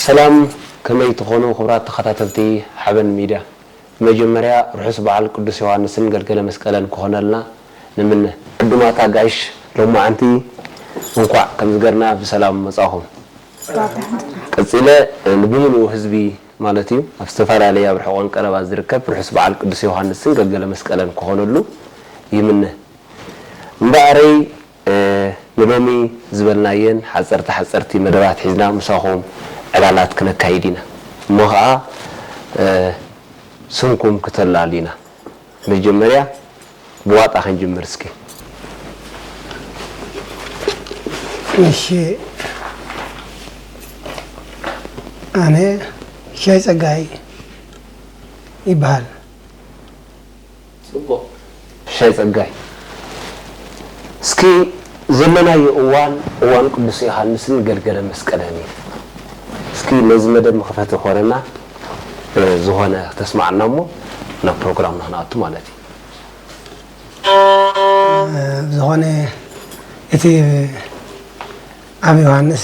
ሰላም ከመይ ትኾኑ ክብራት ተኸታተልቲ ሓበን ሚድያ። መጀመርያ ርሑስ በዓል ቅዱስ ዮሃንስን ገልገለ መስቀለን ክኾነልና ንምነ። ዕዱማት ኣጋይሽ ሎማዓንቲ እንኳዕ ከምዚ ገርና ብሰላም መጻኹም። ቀጺለ ንብምሉኡ ህዝቢ ማለት እዩ ኣብ ዝተፈላለየ ኣብ ርሑቐን ቀረባን ዝርከብ ርሑስ በዓል ቅዱስ ዮሃንስን ገልገለ መስቀለን ክኾነሉ ይምነ። እምበኣረይ ንሎሚ ዝበልናየን ሓጸርቲ ሓጸርቲ መደባት ሒዝና ምሳኹም ዕላላት ክነካይድ ኢና እሞ ኸኣ ስምኩም ክተላሉ ኢና መጀመርያ ብዋጣ ክንጅምር እስኪ። እሺ ኣነ ሻይ ጸጋይ ይብሃል። ጽቡቅ ሽሻይ ጸጋይ እስኪ ዘለናዮ እዋን እዋን ቅዱስ ዮሃንስን ገልገለ መስቀልን እዩ እስኪ ነዚ መደብ መክፈቲ ክኮነና ዝኮነ ተስማዓና እሞ ናብ ፕሮግራምና ክንኣቱ ማለት እዩ። ብዝኮነ እቲ ኣብ ዮሃንስ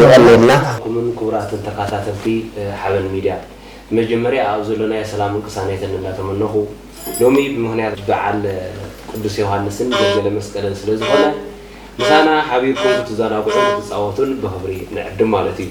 የቐንየልና። ኩምን ኩቡራትን ተካታተልቲ ሓበን ሚድያ ብመጀመርያ ኣብ ዘሎናዮ ሰላምን ቅሳኔትን እንዳተመነኹ ሎሚ ብምኽንያት ብዓል ቁዱስ ዮሃንስን ገልገለ መስቀልን ስለ ዝኾነ ምሳና ሓቢርኩም ክትዛናግዑን ክትጻወቱን ብኽብሪ ንዕድም ማለት እዩ።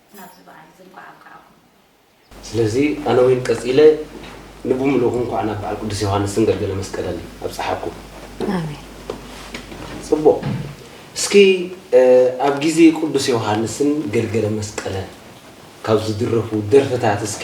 ናብዚ በዓል እዚ እንቋዕ ኣብቀዓኩም። ስለዚ ኣነ ዊን ቀጺለ ንብምሉኡ እንኳዕ ናብ በዓል ቅዱስ ዮሃንስን ገልገለ መስቀለን ኣብጸሓኩም። ኣሜን። ጽቡቅ እስኪ ኣብ ግዜ ቁዱስ ዮውሃንስን ገልገለ መስቀለን ካብ ዝድረፉ ደርፍታት እስኪ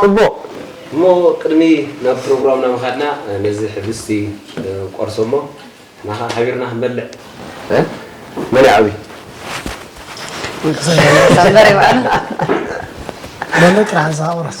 ጽቡቕ! እሞ ቅድሚ ናብ ፕሮግራምና ምኻድና ነዚ ሕብስቲ ቆርሶ እሞ ናኻ ሓቢርና ክንበልዕ። መን ይዓብይ? ሎሚ ጥራሕ ንስኻ ቁረሶ።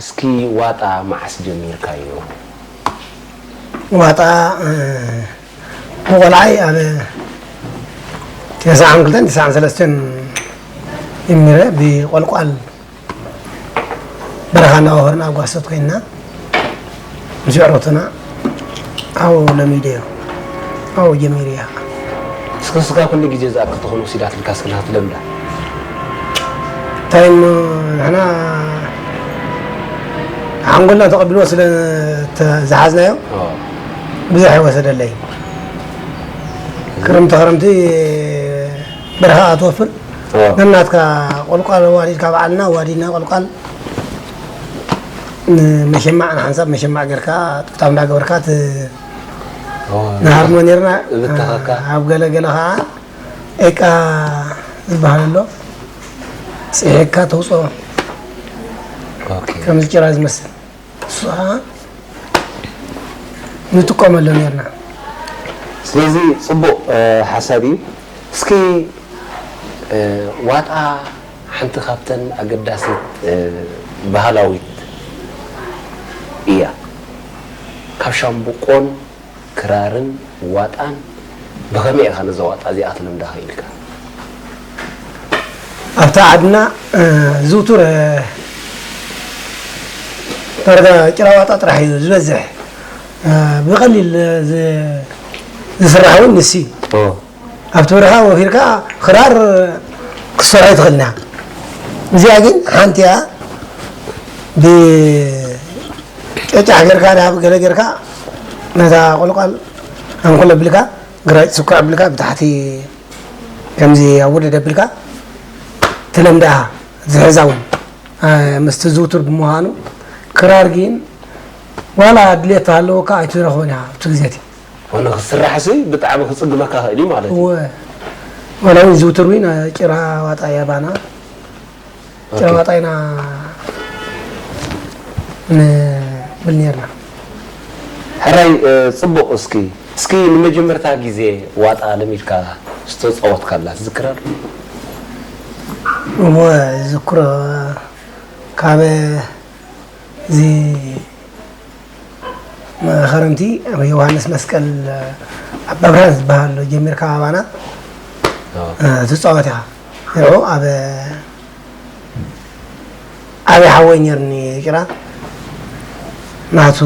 እስኪ ዋጣ መዓስ ጀሚርካዮ? ዋጣ ብቆልዓይ ኣብ ተሰዓን ክልተን ተሰዓን ሰለስተን ጀሚረ ብቆልቋል በረኻ እናወፈርና ኣብ ጓሶት ኮይንና ምስ የዕሩኽትና ኣዎ ለሚደዮ ኣዎ ጀሚርያ እስከ ንስኻ ኩሉ ግዜ እዛ ክትኾን ወሲዳትልካ እስከ ንክትለምዳ እንታይ እሞ ንሕና ሓንጎልና ተቐቢልዎ ስለ ዝሓዝናዮ ብዙሕ ኣይወሰደለይ ክርምቲ ክረምቲ በረኻ ትወፍር ነናትካ ቆልቋል ዋዲድካ በዓልና ዋዲድና ቆልቋል ንመሸማዕ ንሓንሳብ መሸማዕ ጌርካ ጥብጣብ እንዳገበርካ እቲ ንሃርሞ ኔርና ኣብ ገለ ገለ ከዓ ኤቃ ዝበሃል ኣሎ ፅሒካ ተውፅኦ ከምዚ ጭራ ዝመስል እሱ ከዓ ንጥቀመሉ ኔርና ስለዚ ፅቡቅ ሓሳብ እዩ እስኪ ዋጣ ሓንቲ ካብተን ኣገዳሲት ባህላዊት እያ። ካብ ሻምብቆን ክራርን ዋጣን ብኸመይ ኢኻ ነዛ ዋጣ እዚኣ ክትልምዳ ክኢልካ? ኣብታ ዓድና ዝውቱር ዳርጋ ጭራ ዋጣ ጥራሕ እዩ ዝበዝሕ። ብቐሊል ዝስራሕ እውን ንሱ እዩ። ኣብቲ ብርሃን ወፊርካ ክራር ክትሰርሖ ትኽእል ኢና እዚኣ ግን ሓንቲ እያ ብጨጫሕ ጌርካ ናብ ገለ ጌርካ ነታ ቆልቋል ኣንኩል ኣብልካ ግራጭ ስኩዕ ኣብልካ ብታሕቲ ከምዚ ኣወደድ ኣብልካ ተለምዳኣ ዝሕዛ እውን ምስቲ ዝውቱር ብምዃኑ ክራር ግን ዋላ ድሌት ኣለወካ ኣይትረኽቦን እያ ኣብቲ ግዜ እቲ ኮነ ክስራሕሲ ብጣዕሚ ክጽግመካ ይኽእል እዩ ማለት እዩ። እወ ዋላ ውን ዝውትር ዊን ጭራ ዋጣ ያባና ጭራ ዋጣ ኢና ንብል ኔርና። ሕራይ ጽቡቕ እስኪ እስኪ ንመጀመርታ ግዜ ዋጣ ለሚድካ ዝተጻወትካላ ትዝክራ ዶ? እወ ዝክሮ ካብ እዚ መኸርምቲ ኣብ ዮሃንስ መስቀል ኣብ ኣብርሃን ዝበሃል ጀሚርካ ኣባና ትፃወት ኢኻ ንዑ ኣብ ዓብይ ሓወይ ነርኒ ጭራ ናቱ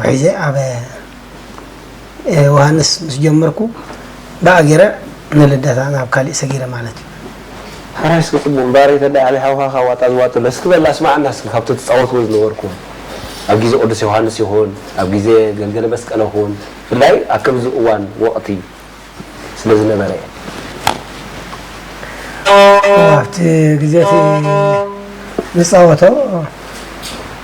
ሒዘ ኣብ ዮሃንስ ምስ ጀመርኩ ብኣጊረ ንልደታ ናብ ካሊእ ሰጊረ ማለት እዩ። ሕራይ እስኪ ጽቡቅ ባሬ ተዳይ ዓብይ ሓውካ ካብ ዋጣ ዝዋጥል ዶ እስኪ በላ ኣስማዓና እስኪ ካብቲ ትጻወትዎ ዝነበርኩም ኣብ ግዜ ቅዱስ ዮውሃንስ ይኩን ኣብ ግዜ ገልገለ መስቀል እኹን ብፍላይ ኣብ ከምዚ እዋን ወቅቲ ስለ ዝነበረ ኣብቲ ግዜ እቲ ንጻወቶ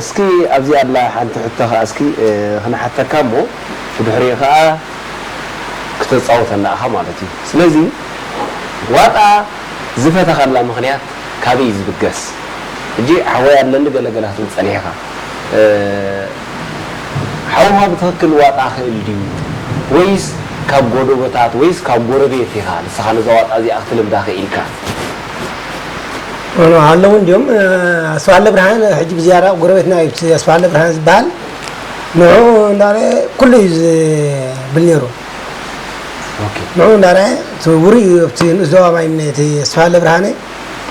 እስኪ ኣብዚ ኣላ ሓንቲ ሕቶ ከኣ እስኪ ክንሓተካ እሞ ብድሕሪኡ ከኣ ክተጻውተና እኻ ማለት እዩ ስለዚ ዋጣ ዝፈተኻላ ምኽንያት ካበይ እዩ ዝብገስ ሕጂ ሓወይ ኣለሊ ገለ ገለ ክትብል ጸኒሕካ ሓውኻ ብትኽክል ዋጣ ክእል ድዩ ወይስ ካብ ጎዶቦታት ወይስ ካብ ጎረቤት ኢኻ ንስኻ ነዛ ዋጣ እዚኣ ክትልምዳ ክኢልካ? ኣለዉ እንዲዮም ኣስፋለ ብርሃን ሕጂ ብዝያዳ ጎረቤትና እዩ እቲ ኣስፋለ ብርሃን ዝበሃል ንዑ እንዳረአ ኩሉ እዩ ዝብል ነይሩ ንዑ እንዳረአ እቲ ውሩይ እዩ ኣብቲ ንኡስ ዞባ ማይ እምነ እቲ ኣስፋለ ብርሃነ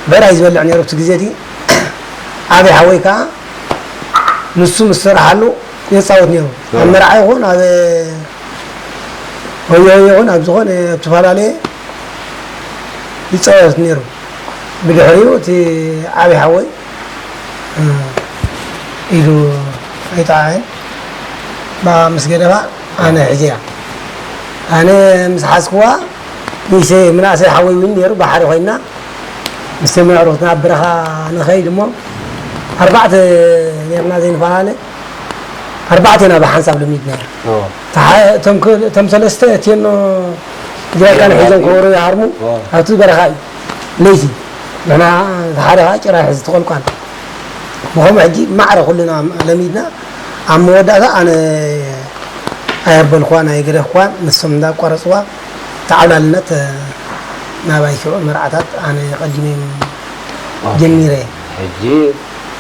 ብዕራይ ዝበልዕ ነይሩ ኣብቲ ግዜ እቲ ዓብዪ ሓወይ ከዓ ንሱ ምስ ሰራሓሉ የፃወት ነይሩ ኣብ መርዓ ይኹን ኣብ ወዮ ይኹን ኣብ ዝኾነ ኣብ ዝተፈላለየ ይጻወት ነይሩ። ብድሕሪኡ እቲ ዓቢ ሓወይ ኢሉ ኣይጠዓዐን። ብኣ ምስ ገደፋ ኣነ ሒዘያ። ኣነ ምስ ሓዝክዋ ንእሽተይ ምናእሰይ ሓወይ እውን ነይሩ ብሓደ ኮይና ምስ ተመዕሩት ናብ በረኻ ንኸይድ እሞ ኣርባዕተ ኔርና ዘይንፈላለ ኣርባዕቴና ብሓንሳብ ልምድ ነይሩ እቶም ሰለስተ እቴኖ ትግራይ ካልእ ሒዞም ከበሮ ይሃርሙ ኣብቲ በረኻ እዩ ለይቲ ንሕና ሓደ ከዓ ጭራ ይሕዝ ተቆልቋል ብከምኡ ሕጂ ማዕረ ኩልና ለሚድና ኣብ መወዳእታ ኣነ ኣየበልኳን ኣይገደፍኳን ንሶም እንዳቋረፅዋ ተዓብላልነት ናባይ ሽዑ መርዓታት ኣነ ቀዲመ ጀሚረ ሕጂ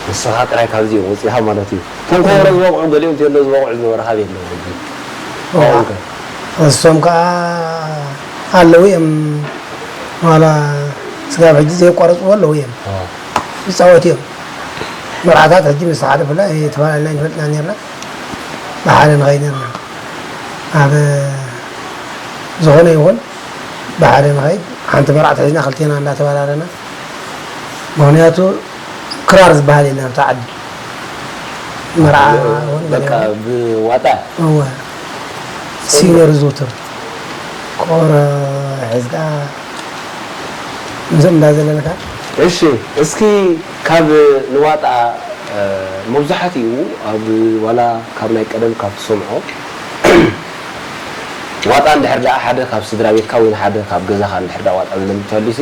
ንስኻ ጥራይ ካብዚኦም ወፂእኻ ማለት እዩ እቶም ከበሮ ዝበቕዑ ገሊኦም ቴሎ ዝበቕዑ ዝነበሩ ሃበይ ኣለዉ ሕጂ ንሶም ከኣ ኣለዉ እዬም ዋላ ስጋብ ሕጂ ዘየቋረጽዎ ኣለዉ እዬም ይጻወቱ እዬም መርዓታት ሕጂ ምስ ሓለፉላ ተፈላሊና ኣይንፈልጥና ኔርና ብሓደ ንኸይድ ኔርና ኣብ ዝኾነ ይኹን ብሓደ ንኸይድ ሓንቲ መርዓት ሒዝና ክልቴና እንዳተበላለና ምክንያቱ ክራር ዝበሃል የለን ኣብታ ዓዲ መርዓ በቃ ብዋጣ እወ ሲነር ዝውትር ኮረ ሕዝካ እዞም እንዳዘለልካ እሺ እስኪ ካብ ንዋጣ መብዛሕቲኡ ኣብ ዋላ ካብ ናይ ቀደም ካብ ትሰምዖ ዋጣ እንድሕር ደኣ ሓደ ካብ ስድራቤትካ ወይ ንሓደ ካብ ገዛኻ እንድሕር ደኣ ዋጣ ዝለምድ ተሃልዩሲ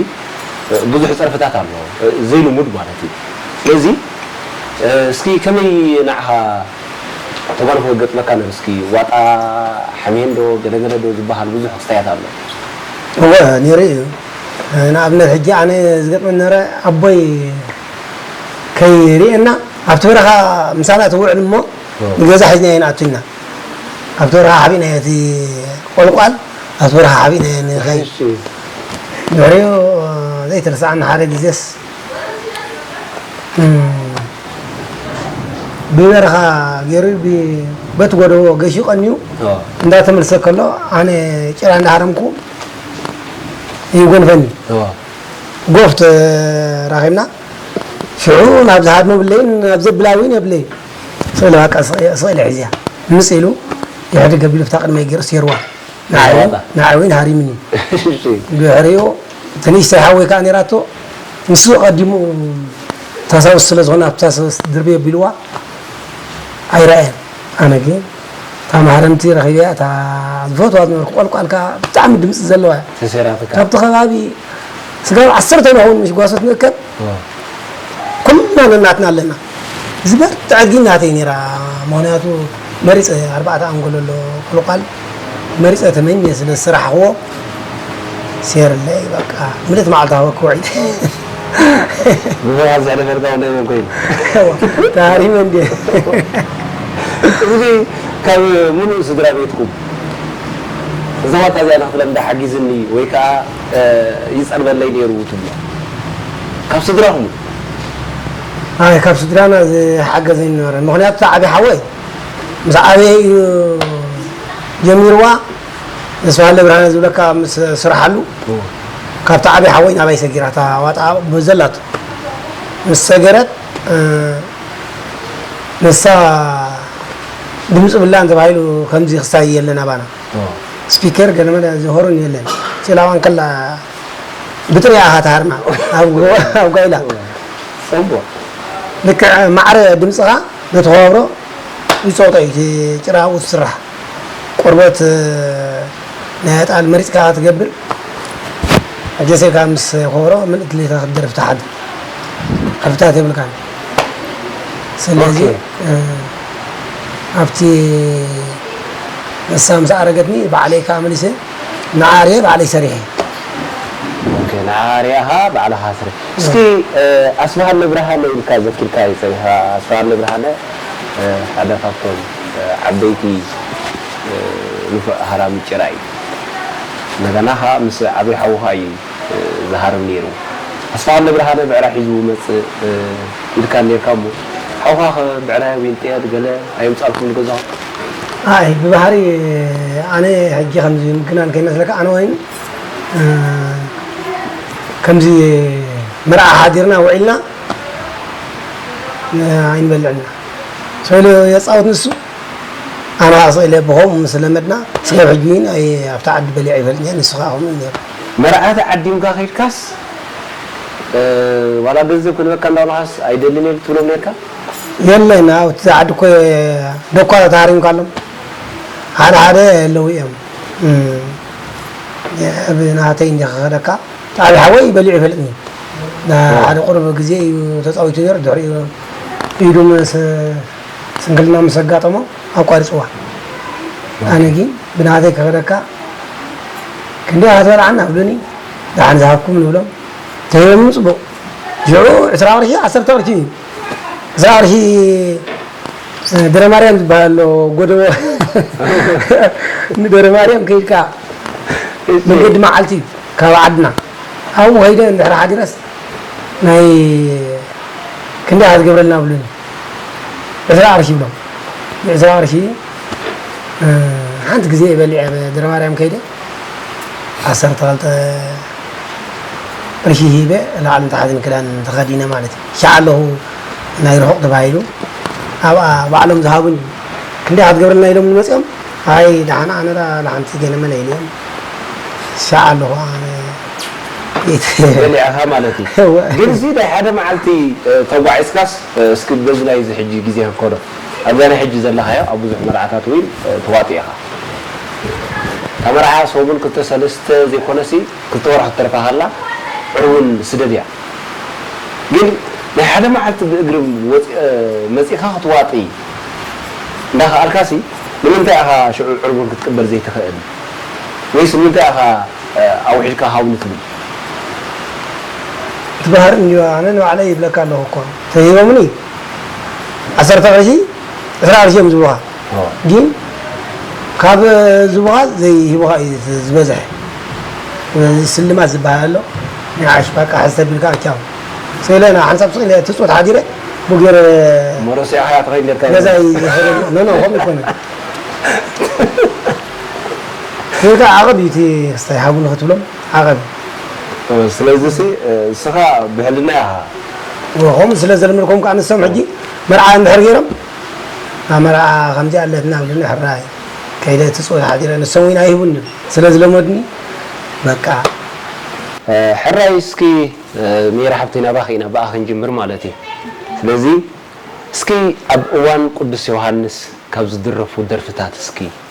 ብዙሕ ጸርፍታት ኣሎ ዘይልሙድ ማለት እዩ ስለዚ እስኪ ከመይ ንዓኻ ተጓንፎ ይገጥመካ ኣሎ እስኪ ዋጣ ሕሜን ዶ ገለ ገለ ዶ ዝባሃል ብዙሕ ክስታያት ኣሎ። እወ ኔሩ እዩ ንኣብነት ሕጂ ኣነ ዝገጥመኒ ነበረ ኣቦይ ከይርኤና ኣብቲ በረኻ ምሳና ትውዕል እሞ ንገዛ ሒዝናዮ ንኣቱ ኢልና ኣብቲ በረኻ ሓቢእናዮ እቲ ቆልቋል ኣብቲ በረኻ ሓቢእናዮ ንኸይድ። ድሕሪኡ ዘይትርስዓኒ ሓደ ግዜስ ብበረኻ ገይሩ በቲ ጎደቦ ገሽዩ ቀንዩ እንዳተመልሰ ከሎ ኣነ ጭራ እንዳሃረምኩ ይጎንፈኒ ጎፍ ተራኺብና ሽዑ ናብ ዝሃድሞ ብለይን ናብ ዘብላ እውን የብለይ ስእሊ ባቃ ስእሊ ሕዝያ ምስ ኢሉ ድሕሪ ገቢሉ ፍታ ቅድመይ ገይሩ ሴርዋ ንዓይ እውን ሃሪምኒ ድሕሪኡ እቲ ንእሽተይ ሓወይ ከኣ ኔራቶ ንሱ ኣቀዲሙ ታሳውስ ስለ ዝኮነ ኣብታ ሰበስ ድርብይ ኣቢልዋ ኣይረኣየን ኣነ ግን እታ ማህረምቲ ረኺበያ እታ ዝፈትዋ ዝነበርኩ ቆልቋል ከኣ ብጣዕሚ ድምጺ ዘለዋ እያ ተሰራትካ ካብቲ ከባቢ ስጋብ ዓሰርተ ንኸውን ምሽ ጓሶት ንእከብ ኩልና ነናትና ኣለና ዝበርትዐት ግን ናተይ ኔራ ምክንያቱ መሪጸ ኣርባዕተ ኣንጎሎ ኣሎ ቆልቋል መሪጸ ተመኘ ስለ ዝሰራሕክዎ ሴርለ እዩ በቃ ምልእቲ መዓልቲ ሃወክዎ ዒል ብዘይ ኣብዚ ሕደ ዳርጋ ወለይ መን ኮይኑ ተሃሪመ እንድየ እዚጊ ካብ ምሉእ ስድራ ቤትኩም እዛ ዋልታ እዚኣ ንክትለምዳ ሓጊዝኒ ወይ ከኣ ይጸልበለይ ነይሩ ትብሎ ካብ ስድራኹም? ኣይ ካብ ስድራና ዝሓገዘኒ ነበረን ምኽንያቱ እታ ዓብይ ሓወይ ምስ ዓበየ እዩ ጀሚርዋ ተስፋሃለ ብርሃነ ዝብለካ ምስ ስርሓሉ ካብቲ ዓብይ ሓወይ ናባይ ሰጊራ እታ ዋጣ ዘላቶ ምስ ሰገረት ንሳ ድምፂ ብላን ተባሂሉ ከምዚ ክሳይ የለን ኣባና ስፒከር ገለመለ ዝሆርን የለን ፂላዋን ከላ ብጥሪያ ኣኻ ተሃርማ ኣብ ጓይላ ልክዕ ማዕረ ድምፅኻ ነቲ ከዋብሮ ይጸቕጦ እዩ፣ እቲ ጭራ ኣብኡ ትስራሕ ቆርበት ናይ ኣጣል መሪጽካ እኻ ትገብር፣ ኣጀሴካ ምስ ከበሮ ምልእቲ ድሌትካ ክትደርፍ ትሓድር፣ ዕርፍታት የብልካን፣ ስለዚ ኣብቲ ንሳ ምስ ኣረገትኒ ባዕለይ ከኣ መሊሰ፣ ንዓ ሪኤ ባዕለይ ሰሪሐ። ኦኬ ንዓ ሪኣኻ ባዕልኻ ስርሕ። እስኪ ኣስፍሃለ ብርሃነ ኢልካ ዘኪርካ እዩ ፀኒሑ ኣስፍሃለ ብርሃነ ሓደ ካብቶም ዓበይቲ ንፉዕ ሃራሚ ጭራ እዩ እንደገና ኸዓ ምስ ዓብይ ሓውኻ እዩ ዝሃርም ነይሩ ኣስፍሃለ ብርሃነ ብዕራይ ሒዙ ውመፅእ ኢልካ ነይርካ እሞ ሓውኻ ኸ ብዕራይ ዊንጥየል ገለ ኣየምፃልኩም ንገዛኹም? ኣይ ብባህሪ ኣነ ሕጂ ከምዚ ምግናን ከይመስለካ ኣነ ወይን ከምዚ መርዓ ሓዲርና ውዒልና ኣይንበልዕን ኢና ሰው ኢሉ የጻውት ንሱ ኣነ ከዓ ሰው ኢለ ብኸምኡ ምስ ለመድና ስጋብ ሕጂ ወይን ኣይ ኣብቲ ዓዲ በሊዐ ኣይፈልጥን እየ ንሱ ከዓ ከምኡ እዩ ነይሩ መርዓ ተዓዲምካ ከይድካስ ዋላ ገንዘብ ክንበካ እንዳበልኻስ ኣይደልን እየ ትብሎም ኔርካ? የለን ኣብቲ ዛዕድኮ ዶኳ ተታሃሪምካ ኣሎ ሓደ ሓደ ኣለው እዮም እብ ናተይ እንዲየ ክከደካ ጣቢ ሓወይ በሊዑ ይፈልጥኒ ንሓደ ቁሩብ ግዜ እዩ ተጻዊቱ ነይሩ ድሕሪኡ ኢዱ ምስ ስንክልና ምስ ኣጋጠሞ ኣቋሪጽዋ ኣነ ግን ብናተይ ክከደካ ክንደይ ክትበልዓና ኣብሉኒ ደሓን ዝሃብኩም ንብሎም ተሂቦምኒ ጽቡቅ ሽዑ ዕስራ ቅርሺ ዓሰርተ ቅርሺ እዩ ዕስራ ቅርሺ ደረማርያም ዝበሃል ኣሎ ጎደቦ ንደረማርያም ከይድካ መንገዲ መዓልቲ እዩ ካብ ዓድና ኣብኡ ከይደ እንድሕር ሓዲረስ ናይ ክንደይ ኢኻ ዝገብረልና ብሉኒ ዕስራ ቅርሺ ይብሎም ብዕስራ ቅርሺ ሓንቲ ግዜ በሊዐ ደረማርያም ከይደ ዓሰርተ ክልተ ቅርሺ ሂበ ላዕልን ታሕትን ክዳን ተኸዲነ ማለት እዩ ሻዕ ኣለኹ ናይ ርሑቕ ተባሂሉ ኣብኣ ባዕሎም ዝሃቡኒ ክንደይ ክትገብረልና ኢሎም ንመፅኦም ኣይ ዳሓን ኣነ ዳ ላሓንቲ ገለመለ ኢልዮም ሻዕ ኣለኹ ኣነ በሊዕኻ ማለት እዩ ግን እዚ ናይ ሓደ መዓልቲ ተጓዒዝካስ እስኪ በዚ ናይዚ ሕጂ ግዜ ከከዶ ኣብዛ ናይ ሕጂ ዘለኻዮ ኣብ ብዙሕ መርዓታት እውን ተዋጢእኻ እታ መርዓ ሰሙን ክልተ ሰለስተ ዘይኮነሲ ክልተ ወርሒ ክትተርፋ ከላ ዕውን ስደድ እያ ግን ናይ ሓደ መዓልቲ ብእግሪ መጺእካ ክትዋጢ እንዳከኣልካሲ ንምንታይ ኢኻ ሽዑ ዕርቡን ክትቅበል ዘይትኽእል ወይስ ንምንታይ ኢኻ ኣውሒድካ ሃውኒ ትብል። ትባህር እንድዩ ኣነ ንባዕለይ ይብለካ ኣለኩ እኮ ተሂቦምኒ ዓሰርተ ቅርሺ ዕስራ ቅርሺ እዮም ዝብሉካ። ጊን ካብ ዝቡኻ ዘይህቡኻ እዩ ዝበዝሕ ስለዚ ስልማት ዝባሃል ኣሎ ንዓሽ ባቃ ሕዝ ተቢልካ ቻው ስእለ ናብ ሓንሳብ ስቅ ኢለ ትጽወት ሓዲረ ቡ ጌረ መሮሲያ ሓያ ተኸይድ ኔርካ ገዛይ ዝሕረሉ ኖኖ ከምኡ ኣይኮነን ጌጋ ዓቐብ እዩ እቲ ክስታይ ሓቡ ንኽትብሎም ዓቐብ እዩ ስለዚ ሲ ንስኻ ብሕልና ኢኻ። ከምኡ ስለ ዘልመድኩም ከኣ ንሶም ሕጂ መርዓ እንድሕር ገይሮም ኣመርኣ ከምዚኣ ኣለትና እብሉ ንሕራይ ከይደ ትጽወ ሓዲረ ንሶም ዊን ኣይህቡንን ስለ ዝለመዱኒ በቃ። ሕራይ እስኪ ሜሪ ሓብተይ ናባኺ ኢና ብኣ ክንጅምር ማለት እዩ ስለዚ እስኪ ኣብ እዋን ቁዱስ ዮውሃንስ ካብ ዝድረፉ ደርፍታት እስኪ።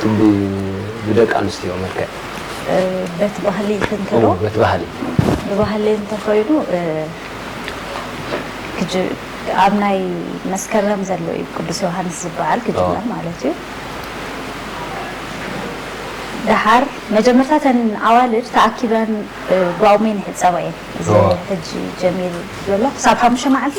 ክንዲ ብደቂ ኣንስትዮ መልክዕ። በቲ ባህሊ ክንከዶ። እወ በቲ ባህሊ። ብባህሊ እንተኾይኑ ኣብ ናይ መስከረም ዘሎ እዩ ቅዱስ ዮሃንስ ዝበዓል ክጅመር ማለት እዩ። ደሓር መጀመርታ እተን ኣዋልድ ተኣኪበን ብኣውሜን ይሕፀባ እየን። እዚ ሕጂ ጀሚሩ ዘሎ ክሳብ ሓሙሽተ መዓልቲ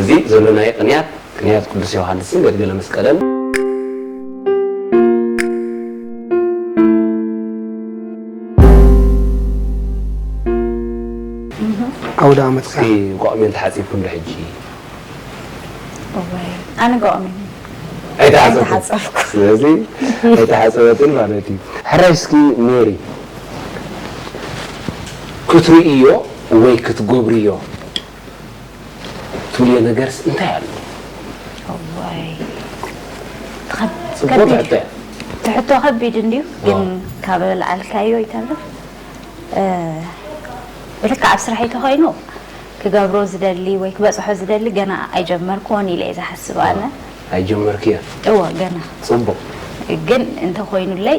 እዚ ዘሎናዮ ቅንያት ቅንያት ቅዱስ ዮሓንስን ገድግለ መስቀልን። ኣውደኣመት እስኪ ጓቕሜን ተሓጺብኩም ዶ ሕጂ? እዋይ ኣነ ጓቕሜን ኣይተሓጸብኩ ስለዚ ኣይተሓጸበትን ማለት እዩ። ሕራይ እስኪ ሜሪ ክትርእዮ ወይ ክትገብርዮ ትብልዮ ነገርስ እንታይ ኣሎ? እዋይ ጽቡቕ ትሕቶ እያ። እቲ ሕቶ ከቢድ እንድዩ ግን ካብ ኣልዓልካዮ ይተርፍ ብልክዕ ኣብ ስራሕይ ተኾይኑ ክገብሮ ዝደሊ ወይ ክበጽሖ ዝደሊ ገና ኣይጀመርክዎን ኢለ እየ ዝሓስብ ኣነ ኣይጀመርክዮን እወ ገና ጽቡቕ ግን እንተኾይኑለይ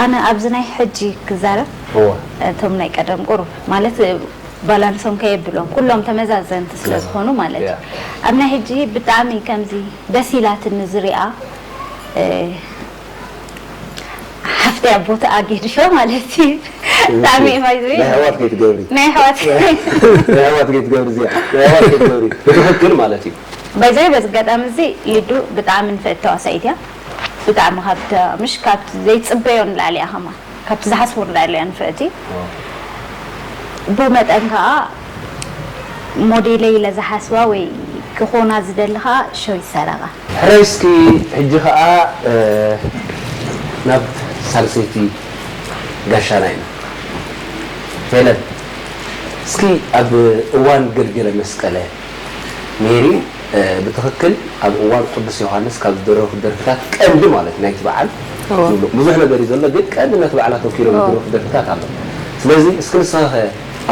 ኣነ ኣብዚ ናይ ሕጂ ክዛረብ እወ። እቶም ናይ ቀደም ቁሩብ ማለት ባላንሶም ከየብሎም ኩሎም ተመዛዘንቲ ስለ ዝኾኑ ማለት እዩ። ኣብ ናይ ሕጂ ብጣዕሚ ከምዚ ደስ ኢላትኒ ዝሪኣ ሓፍተይ ኣብ ቦትኣ ጌድሾ ማለት እዩ ብጣዕሚ እየ ባይ ዘ ዌይ ናይ ኣሕዋት ከይትገብሪ ናይ ኣሕዋት ናይ ኣሕዋት ከይትገብሪ እዚኣ ናይ ኣሕዋት ከይትገብሪ ብትኽክል ማለት እዩ። ባይ ዘ ዌይ በዚ ኣጋጣሚ እዚ ሊዱ ብጣዕሚ ንፍዕቲ ተዋሳኢት እያ። ብጣዕሚ ካብቲ ምሽ ካብቲ ዘይጽበዮ ንላዕሊ እያ ከማን ካብቲ ዝሓስቦ ንላዕሊ እያ ንፍዕቲ ብመጠን ከኣ ሞዴለይ ኢለ ዝሓስባ ወይ ክኾና ዝደሊ ከኣ ሸዊት ሰረቀ። ሕራይ እስኪ ሕጂ ከኣ ናብ ሳልሰይቲ ጋሻና ኢና ሄለን እስኪ ኣብ እዋን ገልገለመስቀለ፣ ሜሪ ብትኽክል ኣብ እዋን ቁዱስ ዮሃንስ ካብ ዝድረፉ ደርፍታት ቀንዲ ማለት ናይቲ በዓል ዝብሉ ብዙሕ ነገር እዩ ዘሎ ግን ቀንዲ ነቲ በዓል ኣተኪሮም ዝድረፉ ደርፍታት ኣሎ ስለዚ እስኪ ንስኻኸ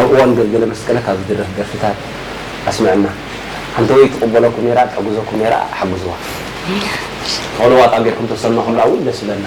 ኣብ እዋን ገልገለ መስቀለ ካብ ዝድረፍ ደርፍታት ኣስምዕና ሓንቲ ወይ ትቅበለኩም ኔራ ትሕግዘኩም ኔራ ሓግዝዋ። እሺ። ትኽእልዋ ጣብ ጌርኩም ተሰምዕኹምላ እውን ደስ ይብለና።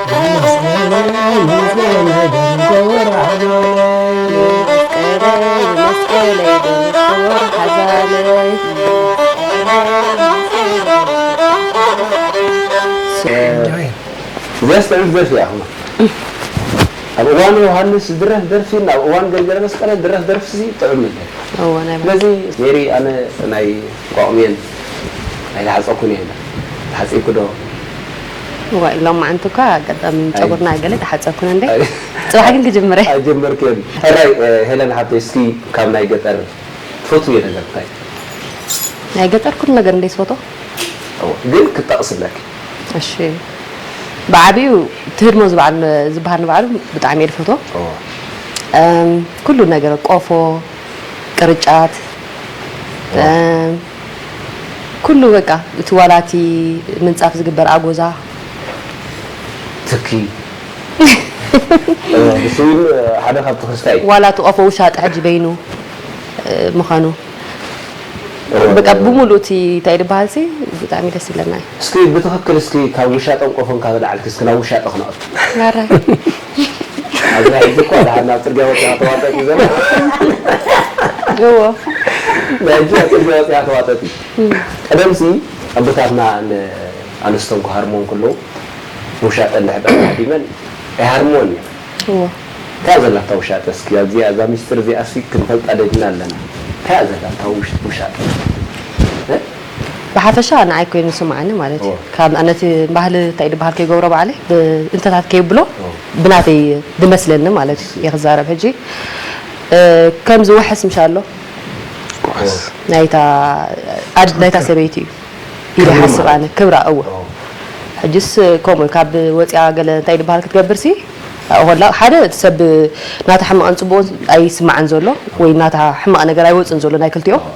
እዚኣስ ጥዕምቲ ደርፊ እያ ክማ ኣብ እዋን ዮሃንስ ዝድረፍ ደርፊ ናብ እዋን ገብረ መስቀለ ዝድረፍ ደርፊ ሲ ጥዑም ነበር እዎ ናይ ባሓቂ ስለዚ ሜሪ ኣነ ናይ ቋቑሜን ኣይተሓፀኩን እየ ኢላ ተሓፂብኪ ዶ እዋይ ሎማዓንቲ እኳ ኣጋጣሚ ጨጉርና ገለ ተሓጸብኩና እንዴ ጽባሕ ግን ክጅምር እየ። ኣይጀመርክዮን ሕራይ ሄለን ሓብተይ እስኪ ካብ ናይ ገጠር ትፈትውዮ ነገር እንታይ እዩ? ናይ ገጠር ኩሉ ነገር እንዴ ዝፈትዎ። እወ ግን ክትጠቅስለኪ። እሺ ብዓቢኡ እቲ ህድሞ ዝበዓል ዝበሃል ንባዕሉ ብጣዕሚ እየ ዝፈትዎ። እወ። ኩሉ ነገር ቆፎ ቅርጫት። እወ። ኩሉ በቃ እቲ ዋላ እቲ ምንጻፍ ዝግበር ኣጎዛ። ትኪ ብስዊን ሓደ ካብ ትክልካ እዩ። ዋላ እቲ ቆፎ ውሻጠ ሕጂ በይኑ ምካኑ በቃ ብሙሉኡ እቲ ታይ ድባሃል ሲ ብጣዕሚ ደስ ይብለና እዩ። እስኪ ብትክክል እስኪ ካብ ውሻጠን ቆፎን ካብ ኣልዓልኪ እስኪ ናብ ውሻጠ ክነኣቱ። ማራ። ኣብዚ ሕጂ እኳ ድሓን ናብ ጽርግያ ወጺኻ ተዋጠጥ እዩ ዘሎ እዎ ናይ ሕጂ ኣብ ጽርግያ ወጺኻ ተዋጠጥ እዩ ቀደምሲ ኣቦታትና ን ኣንስቶም ክሃርምዎ እንክለዉ ውሻጠ እንድሕር ድኣ ተሃዲመን ኣይሃርምዎን እየን እዎ እንታይ እያ ዘላታ ውሻጠ እስኪ ኣብዚኣ እዛ ምስጢር እዚኣሲ ክንፈልጣ ደሊና ኣለና እንታይ እያ ዘላታ ውሻጠ እ ብሓፈሻ ንዓይ ኮይኑ ዝስምዓኒ ማለት እዎ። እዩ ካብ ነቲ ባህሊ እንታይ ድበሃል ከይገብሮ ባዕለይ ብ እንተታት ከይብሎ እዎ። ብናተይ ድመስለኒ ማለት እዩ እየ ክዛረብ ሕጂ እ ከም ዝውሕስ ምሻሎ እዎ። ውሑስ። ናይታ ኣድ ናይታ ትክክል ሰበይቲ እዩ ኢለ ክብሪ ይሓስብ ማለት ኣነ ክብራ እዎ እዎ። ሕጅስ ከምኡ እዩ ካብ ወጽያ ገለ እንታይ ድበሃል ክትገብር ሲ ኣብኡ ከላ ሓደ እቲ ሰብ ናታ ሕማቅን ጽቡቅን ኣይስምዓን ዘሎ ወይ ናታ ሕማቅ ነገር ኣይወጽን ዘሎ ናይ ክልቲኦም እዎ።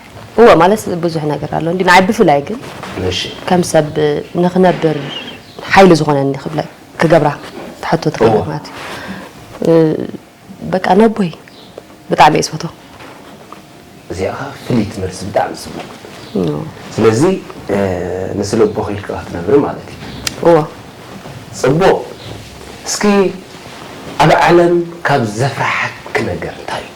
እወ ማለት ብዙሕ ነገር ኣሎ እንዲ ንዓይ ብፍላይ ግን እሺ ከም ሰብ ንክነብር ሓይሊ ዝኾነኒ ክብለ ክገብራ ትሓቶ ትኽእል እዎ። ማለት እዩ እ፣ በቃ ነቦይ ብጣዕሚ እየ ዝፈትዎ እዚኣ ከኣ ፍልይቲ መልሲ ብጣዕሚ ጽቡቕ እዎ። ስለዚ እ፣ ንስለ ኣቦኺ ኢልኪ ክትነብሪ ማለት እዩ እዎ። ጽቡቕ እስኪ ኣብ ዓለም ካብ ዘፍርሓኪ ነገር እንታይ እዩ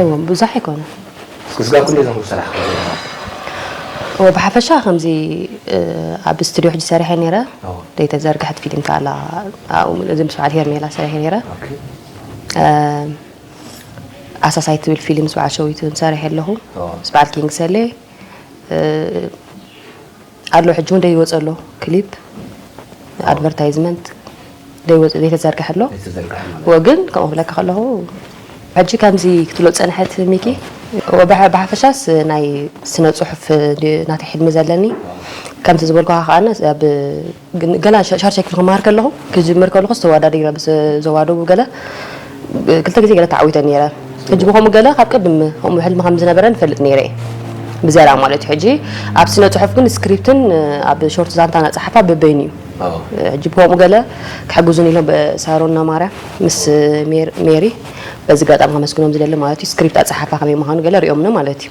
እወ ብዙሕ ኣይኮነን። ክስጋብ ክንደይ ዝኸውን ስራሕ ክገብሩ? እወ ብሓፈሻ ከምዚ ኣብ ስቱድዮ ሕጂ ሰሪሐ ነይረ ዘይተዘርግሐት ፊሊም ከኣ ኣላ ኣብኡ ምእዚ ምስ በዓል ሄርሜላ ሰሪሐ ነይረ ኣሳሳይ ትብል ፊሊም ምስ በዓል ሸዊት እውን ሰሪሐ ኣለኹ ምስ በዓል ኪንግ ሰሌ ኣሎ ሕጂ ውን ደይ ይወጽእ ኣሎ ክሊፕ ኣድቨርታይዝመንት ደይ ወጽእ ደይ ተዘርግሐ ኣሎ ወ ግን ከምኡ ክብለካ ከለኹ ሕጂ ከምዚ ክትብሎ ዝጸንሐት ሚኪ ወ ብሓፈሻስ ናይ ስነ ጽሑፍ ናተይ ሕልሚ ዘለኒ ከምቲ ዝበልኩኻ ከኣ ኣብ ግን ገና ሻርሻ ክፍሊ ክመሃር ከለኹ ክጅምር ከለኹስ ተወዳዲረ ምስ ዞባ ደቡብ ገለ ክልተ ግዜ ገለ ተዓዊተ ነይረ ሕጂ ብከምኡ ገለ ካብ ቅድም ከምኡ ሕልሚ ከም ዝነበረን እፈልጥ ነይረ እየ ብዝያዳ ማለት እዩ ሕጂ ኣብ ስነ ጽሑፍ ግን ስክሪፕትን ኣብ ሾርት ዛንታ ናጸሓፋ በበይኑ እዩ ሕጂ ብከምኡ ገለ ክሕግዙን ኢሎም ሳሮና ማርያ ምስ ሜሪ በዚ ጋጣሚ ከመስግኖም ዝደሊ ማለት እዩ ስክሪፕት ኣጸሓፋ ከመይ ምዃኑ ገለ ሪኦምኒ ማለት እዩ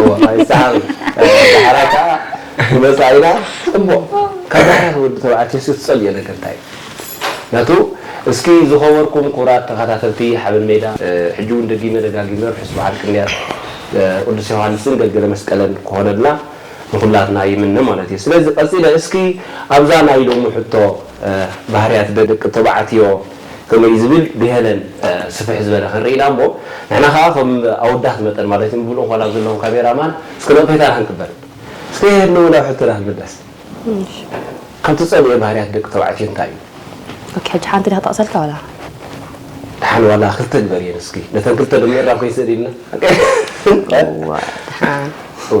እወ ኣይሰዓርን ዳሕራይ ከኣ ንመጻኢና እሞ ካብ ዳሕራይ ንወዲ ተባዕትዮ እስኪ ትጸልዮ ነገር እንታይ እዩ ናቱ እስኪ ዝኸበርኩም ክቡራት ተኸታተልቲ ሓበን ሜዳ ሕጂ ውን ደጊመ ደጋጊመ ርሑስ በዓል ቅንያት ቅዱስ ዮሃንስን ገልገለ መስቀለን ክኾነልና ንኹላትና ይምነ ማለት እዩ ስለዚ ቀጺለ እስኪ ኣብዛ ናይ ሎሚ ሕቶ ባህርያት ደቂ ተባዕትዮ ከምኡ እዩ ዝብል ብሄለን ስፍሕ ዝበለ ክንርኢ ኢና እሞ ንሕና ከኣ ከም ኣወዳት መጠን ማለት እዩ ምሉእ እንኮን ኣብ ዘለኹም ካሜራ ማን እስከ ነቕፌታ ዳሃን ክንበል እስከ የሄድን እውን ኣብ ሕቶና ክንምለስ ካብ ትጸልእዮ ባህርያት ደቂ ተባዕትዮ እንታይ እዩ ኦኬ ሕጂ ሓንቲ ድያ ክጠቕሰልካ ዋላ ደሓን ዋላ ክልተ ግበርየን እስኪ ነተን ክልተ ዶ ምእራም ከይስእን ኢልና እዋእ ደሓን እወ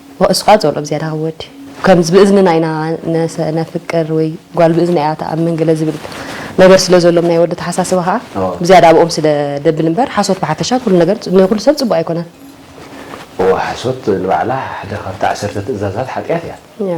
እሱ ከኣ ጸልኦ ብዝያዳ ክወዲ ከምዚ ብእዝንና ኢና ነሰ ነፍቅር ወይ ጓል ብእዝና ኢያ ትኣምን ገለ ዝብል ነገር ስለ ዘሎም ናይ ወዲ ኣተሓሳስባ ከኣ ብዝያዳ ኣብኦም ስለ ደብል እምበር ሓሶት ብሓፈሻ ኩሉ ነገር ንኩሉ ሰብ ጽቡቅ ኣይኮነን። እወ ሓሶት ንባዕላ ሓደ ካብቲ ዓሰርተ ትእዛዛት ሓጥያት ኢያ።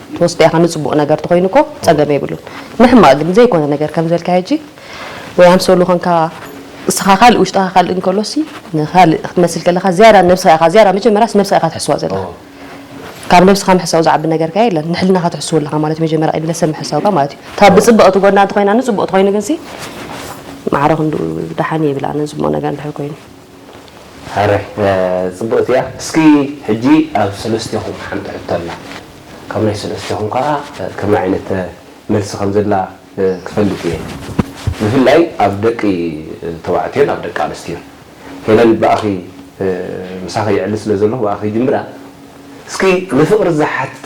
ትወስዶ ኢኻ ንጽቡቅ ነገር ተኾይኑ እኮ ጸገም የብሉን ንሕማቅ ግን ዘይኮነ ነገር ከም ዝበልካዮ ሕጂ ወይ ኣምሰሉ ኮንካ እስኻ ካልእ ውሽጥኻ ካልእ እንከሎሲ ንካልእ ክትመስል ከለኻ ዝያዳ ነብስኻ ኢኻ ዝያዳ መጀመርያስ ነብስኻ ኢኻ ትሕስዋ ዘለኻ ካብ ነብስኻ ምሕሳው ዝዓቢ ነገር ከ የለን ንሕልናኻ ትሕስው ኣለኻ ማለት እዩ መጀመርያ ቅድሚ ሰብ ምሕሳውካ ማለት እዩ እታ ብጽብቕቲ ጎና እንተኾይና ንጽቡቅ ተኾይኑ ግንሲ ማዕረ ክንዱ ደሓን እዩ ይብል ኣነ ዝሞ ነገር እንድሕር ኮይኑ ኣረ ጽብቅቲ እያ እስኪ ሕጂ ኣብ ሰለስቴኹም ሓንቲ ሕቶ ኣላ ካብ ናይ ሰለስቴኹም ከኣ ከመይ ዓይነት መልሲ ከም ዘላ ክፈልጥ እየ ብፍላይ ኣብ ደቂ ተባዕትዮን ኣብ ደቂ ኣንስትዮን ሄለን ብኣኺ ምሳኺ የዕሊ ስለ ዘለኹ ብኣኺ ይጅምራ እስኪ ንፍቅሪ ዝሓትት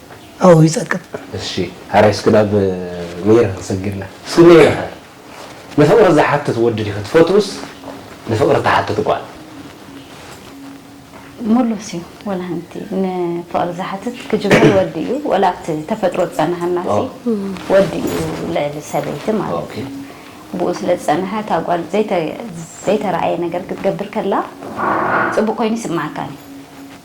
ኣው ይጸቅጥ። እሺ ሐራይ እስኪ ናብ መይረ ክንሰግድና እስኪ መይረ ከ ንፍቅሪ ዝሓትት ወዲ ዲኪ ትፈትውስ ንፍቅሪ ትሓትት ጓል? ሙሉስ እዩ ወላ ሃንቲ ንፍቅሪ ዝሓትት ክጅምር ወዲ እዩ ወላ ኣብቲ ተፈጥሮ ዝጸናሃናሲ ወዲ እዩ ልዕሊ ሰበይቲ ማለት እዩ ብኡ ስለ ዝጸናሃ እታ ጓል ዘይተ ዘይተራእየ ነገር ክትገብር ከላ ጽቡቅ ኮይኑ ይስማዓካን እዩ።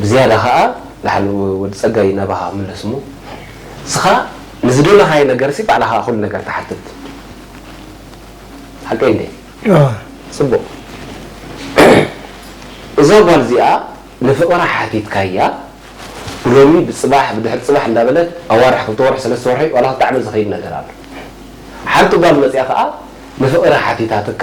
ብዝያዳ ከኣ ላሕሉ ወዲ ጸጋይ ናባኻ ምለስ እሞ እስኻ ንዝደለኻዮ ነገርሲ ባዕልኻ ኩሉ ነገር ትሓትት ሓቀይ እንዴ ጽቡቅ እዛ ጓል እዚኣ ንፍቅራ ሓቲትካያ ብሎሚ ብጽባሕ ብድሕሪ ጽባሕ እንዳበለት ኣዋርሕ ክልተ ወርሒ ሰለስተ ወርሒ ዋላ ክልተ ዓመት ዝኸይድ ነገር ኣሎ ሓንቲ ጓል መጽያ ከኣ ንፍቅራ ሓቲታትካ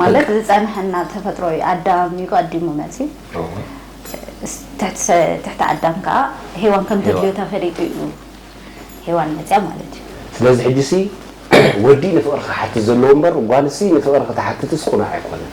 ማለት ዝጸንሐና ተፈጥሮ እዩ ኣዳም እዩ ኣዲሙ መጽዩ እወ ትሕቲ ትሕቲ ኣዳም ከኣ ሄዋን ከም ተድልዮ ሄዋን ተፈሊጡ እዩ ሄዋን መጽያ ማለት እዩ። ስለዚ ሕጂሲ ወዲ ንፍቕሪ ክሓትት ዘለዎ እምበር ጓልሲ ንፍቕሪ ክትሓትትስ ቅኑዕ ኣይኮነን።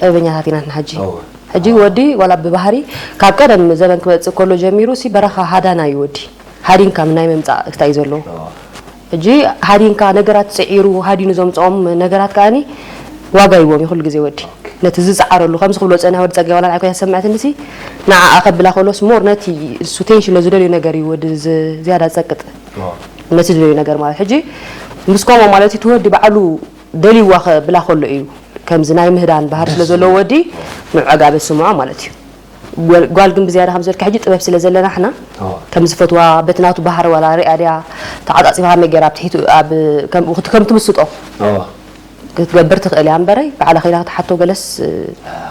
ጠበኛታት ኢና ንሕና ሕጂ እወ ሕጂ ወዲ ዋላ ብባህሪ ካብ ቀደም ዘበን ክመጽእ ከሎ ጀሚሩ ሲ በረኻ ሃዳና እዩ ወዲ ሃዲንካ ናይ ምምጻእ ክስታ እዩ ዘለዎ እወ ሕጂ ሃዲንካ ነገራት ጽዒሩ ሃዲኑ ዘምጽኦም ነገራት ከኣኒ ዋጋ ይዎም እዩ ኩሉ ግዜ ወዲ ኦኬ ነቲ ዝጽዓረሉ ከምዚ ክብሎ ዝጸንሐ ወዲ ጸጋይ ዋላ ንዓይ ኮይና ዝሰምዐትኒ ሲ ንዓኣ ከብላ ከሎስ ሞር ነቲ እሱ ቴንሽን ዝደልዮ ነገር እዩ ወዲ ዝ- ዝያዳ ዝጸቅጥ እወ ነቲ ዝደልዮ ነገር ማለት ሕጂ ምስ ኮሞ ማለት እቲ ወዲ ባዕሉ ደልይዋ ክብላ ከሎ እዩ ከምዚ ናይ ምህዳን ባህሪ ስለ ዘለዎ ወዲ ንዑ ዕጋበ ዝስምዖ ማለት እዩ ጓል ጓል ግን ብዝያዳ ከም ዝበልካ ሕጂ ጥበብ ስለ ዘለና ሕና ከም ዝፈትዋ በቲ ናቱ ባህሪ ዋላ ሪኣ ድያ ተዓጻጺፋ ከመይ ገይራ ኣብ ትሒቱ ኣብ ከም ከም ትምስጦ ክትገብር ትኽእል እያ እምበረይ ባዕላ ከይዳ ክትሓቶ ገለስ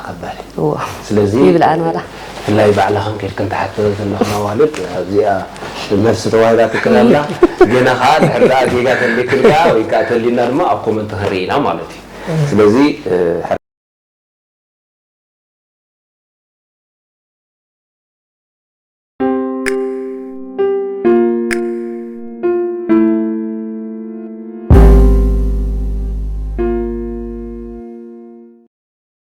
ከበድ እዋ ስለዚ ይብልኣን ዋላ ብፍላይ ባዕልኽን ኬድክን ትሓተዮ ዘለኽን ኣዋልድ ኣብዚኣ መልሲ ተዋሂባትክን ኣላ ገና ከኣ እንድሕር ደኣ ጌጋ ተልይክን ከኣ ወይ ከኣ ተልዩና ድማ ኣብ ኮመንት ክንርኢ ኢና ማለት እዩ ስለዚ